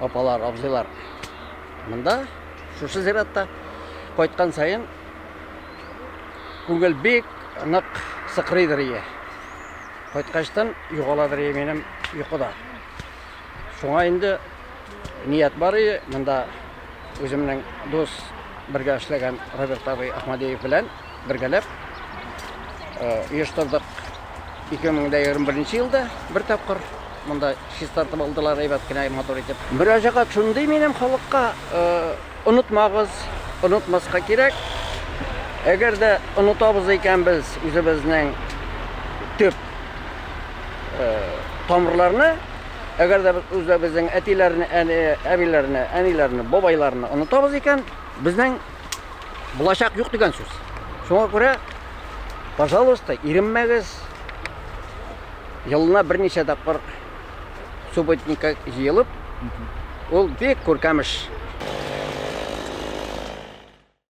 апалар абзыйлар мында шушы зиратта кайткан сайын күңел бик нык сыкрыйдыр ие кайткачтан югаладыр ие минем йокыда Шуңа инде ният бар иде, монда үземнең дус бергә эшләгән Роберт абый Ахмадеев белән бергәләп оештырдык. 2021 елда бер тапкыр монда чистартып алдылар әйбәт кенә матур итеп. Мөрәҗәгать шундый минем халыкка Онытмагыз, онытмаска кирәк. Әгәр дә онытабыз икән без үзебезнең төп э, тамырларны, әгәр дә без үзебезнең әтиләрне, әни, әбиләрне, әниләрне, бабайларны онытабыз икән, безнең булачак юк дигән сүз. Шуңа күрә, пожалуйста, иренмәгез. Елына берничә тапкыр субботникка җыелып, ул бик күркәмеш.